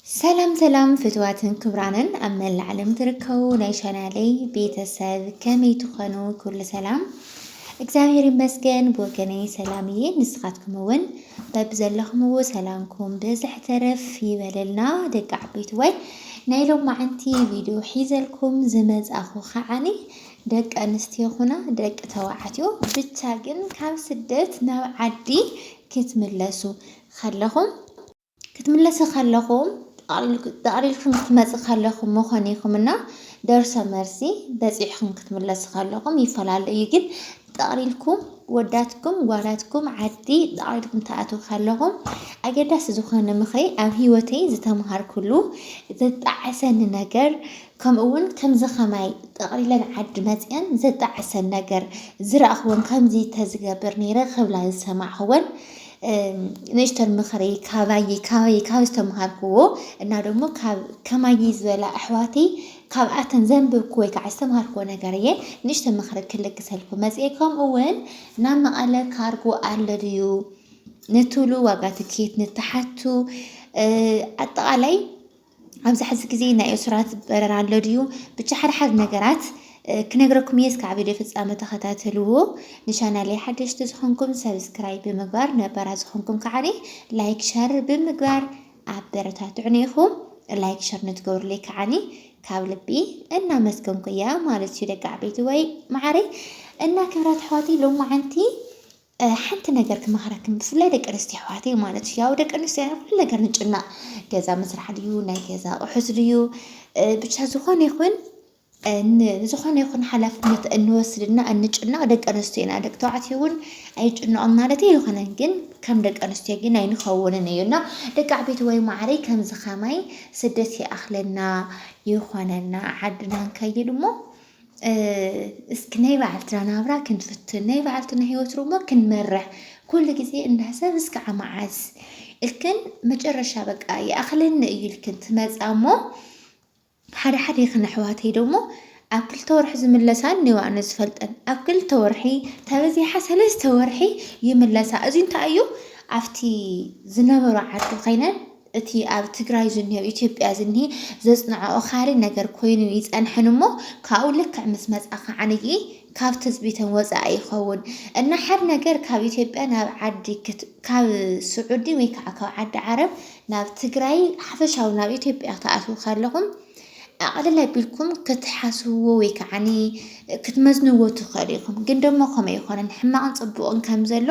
ሰላም ሰላም ፍትዋትን ክብራንን ኣብ መላእ ዓለም ትርከቡ ናይ ቻናለይ ቤተሰብ ከመይ ትኾኑ? ኩሉ ሰላም እግዚኣብሔር ይመስገን ብወገነይ ሰላም እየ። ንስኻትኩም እውን በብዘለኹምዎ ሰላምኩም ብዝሕ ተረፍ ይበለልና ደቂ ዓበይቲ ወይ ናይ ሎማዓንቲ ቪድዮ ሒዘልኩም ዝመጻኹ ከዓኒ ደቂ ኣንስትዮ ኹና ደቂ ተባዕትዮ ብቻ ግን ካብ ስደት ናብ ዓዲ ክትምለሱ ከለኹም ክትምለሲ ከለኹም ጠቕሊልኩም ክትመጽ ከለኹም መኾኒኹም እና ደርሶ መርሲ በጺሕኹም ክትምለሲ ከለኹም ይፈላለ እዩ ግን ጠቕሊልኩም ወዳትኩም ጓላትኩም ዓዲ ጠቕሊልኩም ትኣትዉ ከለኹም ኣገዳሲ ዝኾነ ምኽሪ ኣብ ሂወተይ ዝተምሃርኩሉ ዘጣዕሰኒ ነገር ከምኡ እውን ከምዚ ከማይ ጠቕሊለን ዓዲ መፅአን ዘጣዕሰን ነገር ዝረእኹወን ከምዚ ተዝገብር ነይረ ክብላ ዝሰማዕኹወን ነሽተር ምኽሪ ካባይ ካባይ ካብ ዝተምሃርክዎ እና ደሞ ካብ ከማይ ዝበላ ኣሕዋተይ ካብኣተን ዘንብብኩ ወይ ከዓ ዝተምሃርክዎ ነገር እየ ንእሽተ ምኽሪ ክልግሰልኩ መፅኤ ከምኡ እውን ናብ መቐለ ካርጎ ኣሎ ድዩ ንትብሉ ዋጋ ትኬት ንትሓቱ ኣጠቓላይ ኣብዚ ሕዚ ግዜ ናይ እሱራት በረራ ኣሎ ድዩ? ብቻ ሓደ ሓደ ነገራት ክነግረኩም እየ እስካብ ቪድዮ ፍጻመ ተኸታተልዎ። ንቻናለይ ሓደሽቲ ዝኾንኩም ሰብስክራይብ ብምግባር ነበራ ዝኾንኩም ከዓኒ ላይክ ሸር ብምግባር ኣበረታትዑኒ ኢኹም። ላይክ ሸር ንትገብሩለይ ከዓኒ ካብ ልቢ እናመስገንኩ እያ ማለት እዩ ደቂ ዓበይቲ ወይ መዓረይ እና ክብራት ኣሕዋተይ ሎማዓንቲ ሓንቲ ነገር ክመኽረክን ብፍላይ ደቂ ኣንስትዮ ኣሕዋተይ ማለት እዩ ያው ደቂ ኣንስትዮ ኢና ኩሉ ነገር ንጭናቕ ገዛ ምስራሕ ድዩ ናይ ገዛ ኣቑሑት ድዩ ብቻ ዝኾነ ይኹን ዝኾነ ይኹን ሓላፍነት እንወስድና እንጭነቕ ደቂ ኣንስትዮ ኢና ደቂ ተባዕትዮ እውን ኣይጭነቕም ማለት ኣይኮነን ግን ከም ደቂ ኣንስትዮ ግን ኣይንኸውንን እዩ እና ደቂ ዓበይቲ ወይ ማዕረይ ከምዚ ከማይ ስደት ይኣኽለና ይኾነና ዓድና ንከይድ እሞ እስኪ ናይ ባዕልትና ናብራ ክንፍትን ናይ ባዕልትና ህይወት ሮሞ ክንመርሕ ኩሉ ግዜ እናሰብ እስከዓ መዓዝ እልክን መጨረሻ በቃ ይኣኽለኒ እዩ እልክን ትመፃ እሞ ሓደ ሓደ ይኽን ኣሕዋተይ ደሞ ኣብ ክልተ ወርሒ ዝምለሳ እኒዋ ኣነ ዝፈልጠን ኣብ ክልተ ወርሒ ተበዚሓ ሰለስተ ወርሒ ይምለሳ እዚ እንታይ እዩ ኣብቲ ዝነበሩ ዓዲ ኮይነን እቲ ኣብ ትግራይ ዝንሄው ኢትዮጵያ ዝንሂ ዘጽንዖ ኦኻሪ ነገር ኮይኑ ይጸንሕን እሞ ካብኡ ልክዕ ምስ መጽኣ ከዓንይ ካብ ትጽቢተን ወጻኢ ይኸውን እና ሓድ ነገር ካብ ኢትዮጵያ ናብ ዓዲ ካብ ስዑዲ ወይ ከዓ ካብ ዓዲ ዓረብ ናብ ትግራይ ሓፈሻዊ ናብ ኢትዮጵያ ክትኣትዉ ከለኹም ኣቕልል ኣቢልኩም ክትሓስብዎ ወይ ከዓኒ ክትመዝንዎ ትኽእሉ ኢኹም ግን ደሞ ከምኡ ኣይኮነን ሕማቕን ፅቡቕን ከም ዘሎ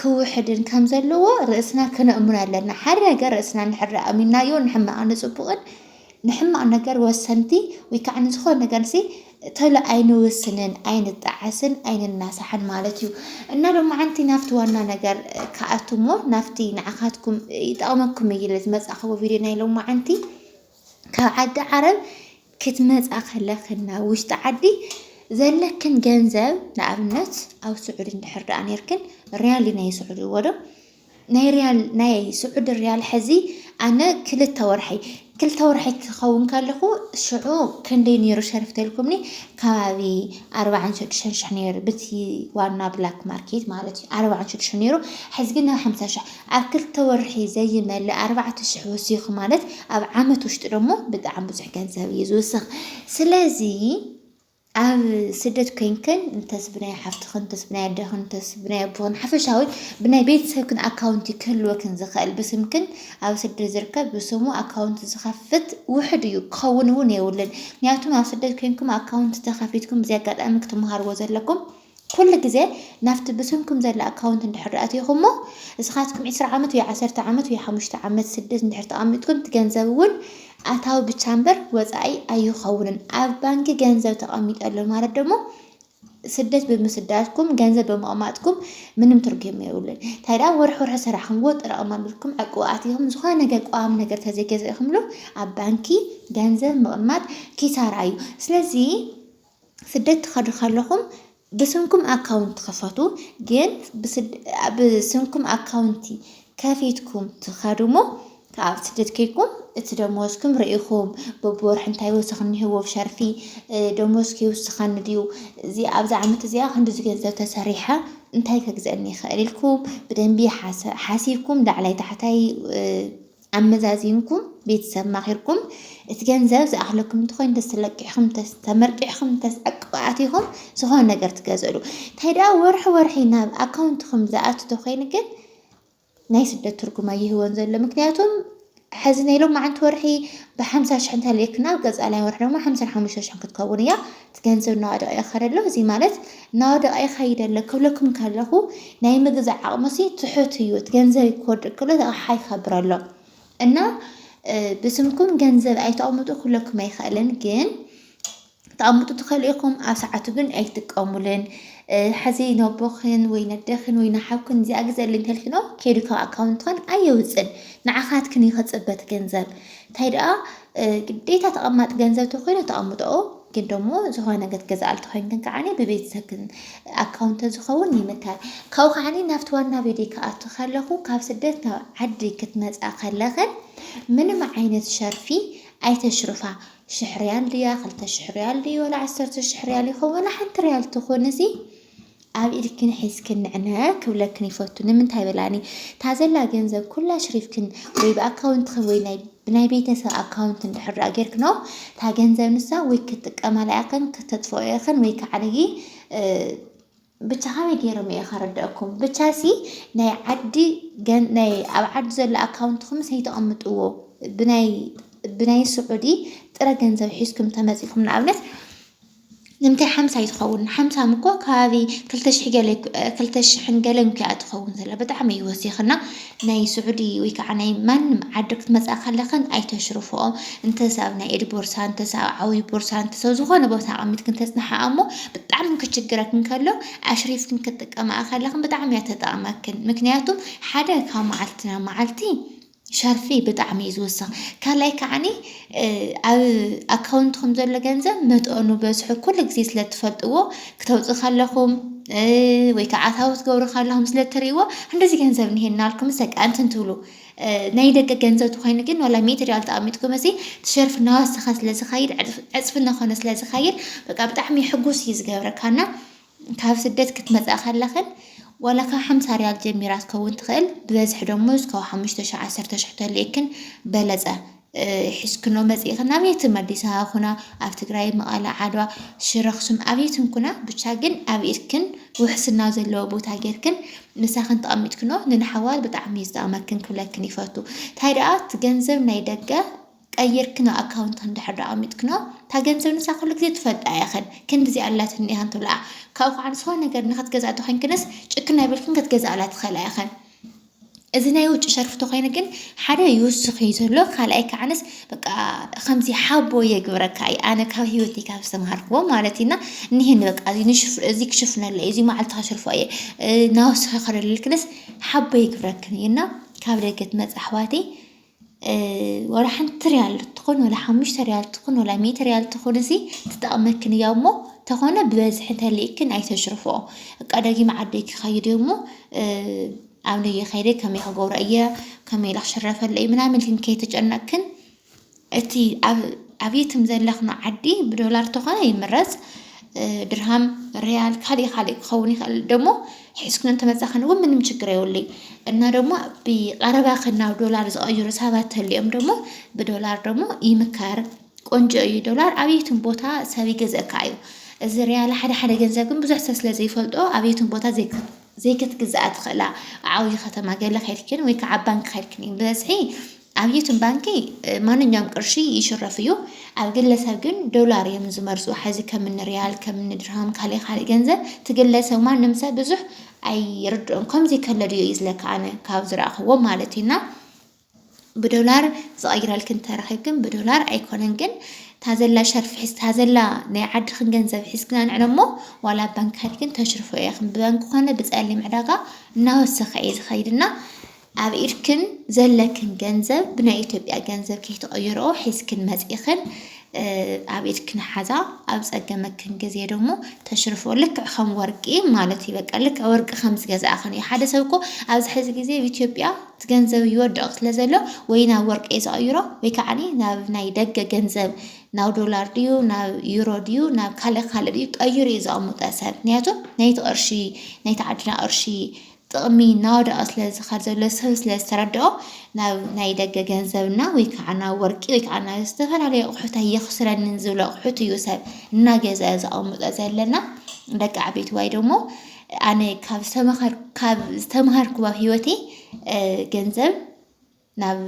ክውሕድን ከም ዘለዎ ርእስና ክነእምኖ ኣለና። ሓደ ነገር ርእስና እንድሕር ኣእሚንናዮ ንሕማቕን ንጽቡቕን ንሕማቕ ነገር ወሰንቲ ወይ ከዓ ንዝኾነ ነገርሲ ተሎ ኣይንውስንን፣ ኣይንጣዓስን፣ ኣይንናሳሕን ማለት እዩ እና ሎማዓንቲ ናብቲ ዋና ነገር ክኣቱ እሞ ናብቲ ንዓኻትኩም ይጠቕመኩም እዩ ኢለ ዝመጻእክዎ ቪድዮ ናይ ሎማዓንቲ ካብ ዓዲ ዓረብ ክትመፃ ከለክና ውሽጢ ዓዲ ዘለክን ገንዘብ ንኣብነት ኣብ ስዑድ እንድሕር ደኣ ነርክን ርያል ናይ ስዑድ ይወዶ ናይ ርያል ናይ ስዑድ ርያል ሕዚ ኣነ ክልተ ወርሒ ክልተ ወርሒ ክኸውን ከለኹ ሽዑ ክንደይ ነይሩ ሸርፍተልኩምኒ ከባቢ ኣርባዕን ሽዱሽተን ሽሕ ነይሩ ብቲ ዋና ብላክ ማርኬት ማለት እዩ ኣርባዕን ሽዱሽተን ነይሩ ሕዚ ግን ናብ ሓምሳ ሽሕ ኣብ ክልተ ወርሒ ዘይመልእ ኣርባዕተ ሽሕ ወሲኹ ማለት ኣብ ዓመት ውሽጢ ደሞ ብጣዕሚ ብዙሕ ገንዘብ እዩ ዝውስኽ ስለዚ ኣብ ስደት ኮይንክን እንተስ ብናይ ሓፍትኽን እንተስ ብናይ ኣደኽን እንተስ ብናይ ኣቦኽን ሓፈሻዊ ብናይ ቤተሰብክን ኣካውንቲ ክህልወክን ዝኽእል ብስምክን ኣብ ስደት ዝርከብ ብስሙ ኣካውንቲ ዝኸፍት ውሕድ እዩ ክኸውን እውን የብሉን ምክንያቱም ኣብ ስደት ኮይንኩም ኣካውንቲ ተኸፊትኩም እዚ ኣጋጣሚ ክትመሃርዎ ዘለኩም ኩሉ ግዜ ናብቲ ብስምኩም ዘላ ኣካውንት እንድሕር ኣቲኹሞ እስኻትኩም ዕስራ ዓመት ወይ ዓሰርተ ዓመት ወይ ሓሙሽተ ዓመት ስደት እንድሕር ተቐሚጥኩም እቲ ገንዘብ እውን ኣታዊ ብቻ እምበር ወፃኢ ኣይኸውንን። ኣብ ባንኪ ገንዘብ ተቐሚጡ ኣሎ ማለት ደሞ ስደት ብምስዳድኩም ገንዘብ ብምቕማጥኩም ምንም ትርጉም የብሉን። እንታይ ደኣ ወርሒ ወርሒ ሰራሕኹምዎ ኣጠራቕማ ኣቢልኩም ዕቁብ ኣቲኹም ዝኾነ ነገር ቋሚ ነገር ተዘይገዛእኹምሉ ኣብ ባንኪ ገንዘብ ምቕማጥ ኪሳራ እዩ። ስለዚ ስደት ትኸዱ ከለኹም ብስምኩም ኣካውንት ክፈቱ ግን ብስምኩም ኣካውንቲ ከፊትኩም ትኸዱሞ ካብ ስደት ከይኩም እቲ ደሞዝኩም ርኢኹም በብወርሒ እንታይ ወሰኽ እኒሀዎ ኣብ ሸርፊ ደሞዝ ከይውስኸኒ ድዩ እዚ ኣብዚ ዓመት እዚኣ ክንድዚ ገንዘብ ተሰሪሐ እንታይ ከግዘአኒ ይኽእል ኢልኩም ብደንቢ ሓሲብኩም ላዕላይ ታሕታይ ኣመዛዚንኩም ቤተሰብ ማኺርኩም እቲ ገንዘብ ዝኣኽለኩም እንተኾይኑ ተስ ተለቂሕኹም ተስ ተመርቂሕኹም ተስ ዕቅብ ኣቲኹም ዝኾነ ነገር ትገዝእሉ እንታይ ደኣ ወርሒ ወርሒ ናብ ኣካውንትኹም ዝኣቱ ተኾይኑ ግን ናይ ስደት ትርጉም ኣይህወን ዘሎ ምክንያቱም ሕዚ ናይ ሎማዓንቲ ወርሒ ብሓምሳ ሽሕ እንተልእክና ኣብ ቀፃላይ ወርሒ ድማ ሓምሳን ሓሙሽተ ሽሕን ክትከውን እያ እቲ ገንዘብ እናወደቐ ይኸድ ኣሎ፣ እዚ ማለት እናወደቐ ይኸይድ ኣሎ ክብለኩም ከለኹ ናይ ምግዛእ ዓቕሙሲ ትሑት እዩ፣ እቲ ገንዘብ ክወድቕ ከሎ እቲ ኣቕሓ ይኸብር ኣሎ እና ብስምኩም ገንዘብ ኣይተቕምጡ ክብለኩም ኣይኽእልን ግን ተኣምጡ ትኸሉ ኢኹም ኣብ ሰዓቱ ግን ኣይትጥቀሙልን ሕዚ ነቦኽን ወይ ነደኽን ወይ ንሓውክን እዚኣ ግዘልኝ ከልኪኖ ከይዱ ካብ ኣካውንትኽን ኣየውፅን ንዓኻትክን ይኸፅበት ገንዘብ እንታይ ደኣ ግዴታ ተቐማጢ ገንዘብ ተኮይኑ ተቐምጠኦ ግን ደሞ ዝኾነ ነገር ትገዝኣሉ ተኮይንክን ከዓኒ ብቤተሰብክን ኣካውንት ተዝኸውን ይምከር። ካብኡ ከዓኒ ናብቲ ዋና ቪድዮ ክኣቱ ከለኹ ካብ ስደት ናብ ዓዲ ክትመጻ ከለኽን ምንም ዓይነት ሸርፊ ኣይተሽርፋ ሽሕ ሪያል ድያ ክልተ ሽሕ ሪያል ድዩ ወላ ዓሰርተ ሽሕ ሪያል ይኸውን ወላ ሓንቲ ሪያል ትኹንሲ ኣብ ኢድክን ሒዝክን ንዕነ ክብለክን ይፈቱ ንምንታይ በላኒ ታዘላ ገንዘብ ኩላ ሽሪፍክን ወይ ብኣካውንትክን ወይ ናይ ብናይ ቤተሰብ ኣካውንት እንድሕር ደኣ ጌርክኖ እታ ገንዘብ ንሳ ወይ ክትጥቀማላ ኢኽን ክተጥፍኦ ኢኽን ወይ ከዓነጊ ብቻ ከመይ ገይሮም እየ ከረድአኩም ብቻ ሲ ናይ ዓዲ ናይ ኣብ ዓዲ ዘሎ ኣካውንትኩም ሰይተቐምጥዎ ብናይ ብናይ ስዑዲ ጥረ ገንዘብ ሒዝኩም ተመፂኹም ንኣብነት ንምታይ ሓምሳ ኣይትኸውን ሓምሳ እኮ ከባቢ ክልተ ሽሕ ገለ ክልተ ሽሕን ገለን እኮ እያ ትኸውን ዘላ ብጣዕሚ እዩ ወሲኽና ናይ ስዑዲ ወይ ከዓ ናይ ማንም ዓዲ ክትመፅኣ ከለኽን ኣይተሽርፍኦ እንተስ ኣብ ናይ ኢድ ቦርሳ እንተስ ኣብ ዓብዪ ቦርሳ እንተስ ኣብ ዝኾነ ቦታ ኣቐሚጥክን ተፅንሓኣ እሞ ብጣዕሚ ክችግረክን ከሎ ኣሽሪፍክን ክትጥቀማኣ ከለኽን ብጣዕሚ እያ ተጠቕመክን ምክንያቱ ሓደ ካብ መዓልቲ ናብ መዓልቲ ሸርፊ ብጣዕሚ እዩ ዝውስኽ ካልኣይ ከዓኒ ኣብ ኣካውንትኩም ዘሎ ገንዘብ መጠኑ በዝሑ ኩሉ ግዜ ስለ እትፈልጥዎ ክተውፅኡ ከለኹም ወይ ከዓ ኣታዊ ክትገብሩ ከለኹም ስለ እትሪእዎ እንደዚ ገንዘብ እኒሀና ኢልኩምስ በቃ እንትን ትብሉ ናይ ደገ ገንዘብ ተኮይኑ ግን ዋላ ሚእቲ ሪያል ተቐሚጥኩም እዚ ትሸርፍ እናወሰኸ ስለ ዝኸይድ ዕፅፊ እናኾነ ስለ ዝኸይድ በቃ ብጣዕሚ ሕጉስ እዩ ዝገብረካና ካብ ስደት ክትመጻኢ ከለኽን ዋላ ካብ ሓምሳ ርያል ጀሚራ ክትከውን ትኽእል ብበዝሒ ደሞዝ ካብ ሓሙሽተ ሽሕ ዓሰርተ ሽሕ ተልእክን በለጸ ሒዝክኖ መጺእኽን ኣብ የትም ኣዲስ ኣበባ ኩና ኣብ ትግራይ መቐለ ዓድዋ ሽረ ኣኽሱም ኣብ የትም ኩና ብቻ ግን ኣብ ኢድክን ውሕስና ዘለዎ ቦታ ጌርክን ምሳኽን ተቐሚጥክኖ ንንሓዋት ብጣዕሚ እዩ ዝጠቕመክን ክብለክን ይፈቱ እንታይ ደኣ እቲ ገንዘብ ናይ ደገ ቀይርክና ኣካውንትክን እንድሕር ድኣ ኣሚትክኖ እታ ገንዘብ ንሳ ኩሉ ግዜ ትፈልጣ ኢኽን ክንዲ እዚኣ ኣላትኒ ኢኽን ትብልኣ ካብኡ ክዓ ንዝኾነ ነገር ንኽትገዝኣ እንተኾይንክንስ ጭክን ኣይበልክን ክትገዝኣላ ትኽእላ ኢኽን እዚ ናይ ውጭ ሸርፊ ተኾይኑ ግን ሓደ ይውስኽ እዩ ዘሎ ካልኣይ ከዓነስ በቃ ከምዚ ሓቦ የግብረካ እዩ ኣነ ካብ ሂወተይ ካብ ዝተምሃርክዎ ማለት እዩና እኒህኒ በቃ እዚ ንሽፍ እዚ ክሽፍነለ እዩ እዚ መዓልቲ ከሽርፎ እየ ናወስኸ ከደልልክንስ ሓቦ የግብረክን እዩና ካብ ደገ ትመጽእ ኣሕዋተይ ዋላ ሓንቲ ርያል ትኹን ዋላ ሓሙሽተ ርያል ትኹን ዋላ ሚእቲ ርያል ትኹን እዚ ትጠቕመክን እያ እሞ ተኾነ ብበዝሒ እንተልይክን ኣይተሽርፍኦ እቃ ደጊመ ዓደይ ክኸይድ እየ እሞ ኣብ ነየ ከይደ ከመይ ክገብሮ እየ ከመይ ኢለ ክሽረፈሉ እየ ምናምን ኢልክን ከይተጨነቕክን እቲ ኣብ ኣብየትም ዘለኽን ዓዲ ብዶላር ተኾነ ይምረፅ። ድርሃም ሪያል ካልእ ካልእ ክኸውን ይኽእል ደሞ ሒዝክን እንተመፃኽን እውን ምንም ችግር የብሉይ እና ደሞ ብቐረባ ናብ ዶላር ዝቐይሩ ሰባት ተልዮም ደሞ ብዶላር ደሞ ይምከር ቆንጆ እዩ ዶላር ኣብየትን ቦታ ሰብ ይገዝእካ እዩ እዚ ሪያል ሓደ ሓደ ገንዘብ ግን ብዙሕ ሰብ ስለ ዘይፈልጦ ኣብየትን ቦታ ዘይክትግዝኣ ትኽእላ ዓብዪ ከተማ ገለ ከድክን ወይ ከዓ ባንክ ከድክን እዩ ብበዝሒ ኣብ ዩቱን ባንኪ ማንኛውም ቅርሺ ይሽረፍ እዩ ኣብ ግለሰብ ግን ዶላር እዮም ዝመርጹ ሐዚ ከምኒ ሪያል ከምኒ ድርሃም ካሊእ ካሊእ ገንዘብ ትግለሰብ ማንም ሰብ ብዙሕ ኣይርድኦን ከምዚ ከሎ ድዮ እዩ ዝለካ ኣነ ካብ ዝረኣኽዎ ማለት እዩ እና ብዶላር ዝቐይረልክን ተረኺብክን ብዶላር ኣይኮነን ግን ታዘላ ሸርፊ ሒዝ ታዘላ ናይ ዓድኽን ገንዘብ ሒዝክን ኣንዕሎ እሞ ዋላ ባንክ ከድክን ተሽርፎ ኢኽን ብባንክ ኮነ ብፀሊም ዕዳጋ እናወሰኸ እዩ ዝኸይድና ኣብ ኢድክን ዘለክን ገንዘብ ብናይ ኢትዮጵያ ገንዘብ ከይትቅይርኦ ሒዝክን መጺእክን ኣብ ኢድክን ሓዛ ኣብ ጸገመክን ግዜ ደሞ ተሽርፍኦ ልክዕ ከም ወርቂ ማለት እዩ በቃ ልክዕ ወርቂ ከም ዝገዛእክን እዩ ሓደ ሰብ እኮ ኣብዚ ሕዚ ግዜ ኣብ ኢትዮጵያ እቲ ገንዘብ ይወድቕ ስለ ዘሎ ወይ ናብ ወርቂ እዩ ዝቕይሮ ወይ ከዓ ናብ ናይ ደገ ገንዘብ ናብ ዶላር ድዩ ናብ ዩሮ ድዩ ናብ ካልእ ካልእ ድዩ ቀይሩ እዩ ዘቐምጠ ሰብ ምክንያቱ ናይቲ ቅርሺ ናይቲ ዓድና ቅርሺ ጥቕሚ እናወደቐ ስለ ዝኸድ ዘሎ ሰብ ስለ ዝተረድኦ ናብ ናይ ደገ ገንዘብ እና ወይ ከዓ ናብ ወርቂ ወይ ከዓ ናብ ዝተፈላለዩ ኣቑሑት ኣየኽስረንን ዝብሎ ኣቑሑት እዩ ሰብ እናገዘ ዘቐምጦ ዘለና ደቂ ዓበይቲ ዋይ ደሞ ኣነ ካብ ዝተመሃርኩዎ ህይወተይ ገንዘብ ናብ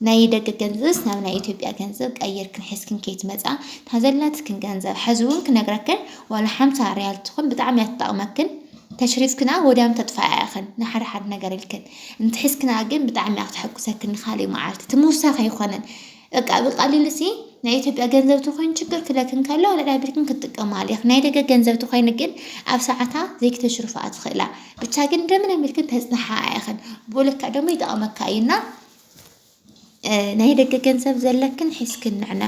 ናይ ደገ ገንዘብስ ናብ ናይ ኢትዮጵያ ገንዘብ ቀይርክን ሒዝክን ከይትመጻ እታ ዘላትክን ገንዘብ ሕዚ እውን ክነግረክን ዋላ ሓምሳ ሪያል ትኹን ብጣዕሚ እያ ትጠቕመክን ተሽሪፍክና ወዲያም ተጥፋኣ ኢኽን ንሓደ ሓደ ነገር ኢልክን እንተሒዝክና ግን ብጣዕሚ እያ ክተሐጉሰክን ንካሊእ መዓልቲ እቲ ምውሳኽ ኣይኮነን በቃ ብቀሊሉ ሲ ናይ ኢትዮጵያ ገንዘብ ተኮይኑ ችግር ክለክን ከሎ ኣልዕላ ቢልክን ክትጥቀማሉ ኢኽ ናይ ደገ ገንዘብ ተኮይኑ ግን ኣብ ሰዓታ ዘይክተሽርፋ ትኽእላ ብቻ ግን እንደምንም ቢልክን ተጽናሓ ኢኽን ብኡ ልክዕ ደሞ ይጠቕመካ እዩና ናይ ደገ ገንዘብ ዘለክን ሒዝክን ንዕነ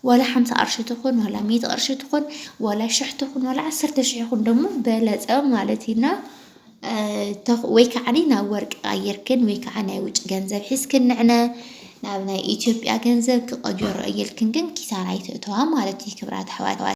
ዋላ ሓምሳ ቅርሺ ትኹን ዋላ ሚእቲ ቅርሺ ትኹን ዋላ ሽሕ ትኹን ዋላ ዓሰርተ ሽሕ ይኹን ደሞ በለጸ ማለት እዩና ወይ ከዓ ናብ ወርቂ ቀይርክን ወይ ከዓ ናይ ውጭ ገንዘብ ሒዝክን ንዕነ ናብ ናይ ኢትዮጵያ ገንዘብ ክቐየሮ እየልክን ግን ኪሳራ ኣይትእተዋ ማለት እዩ ክብራት ኣሕዋት።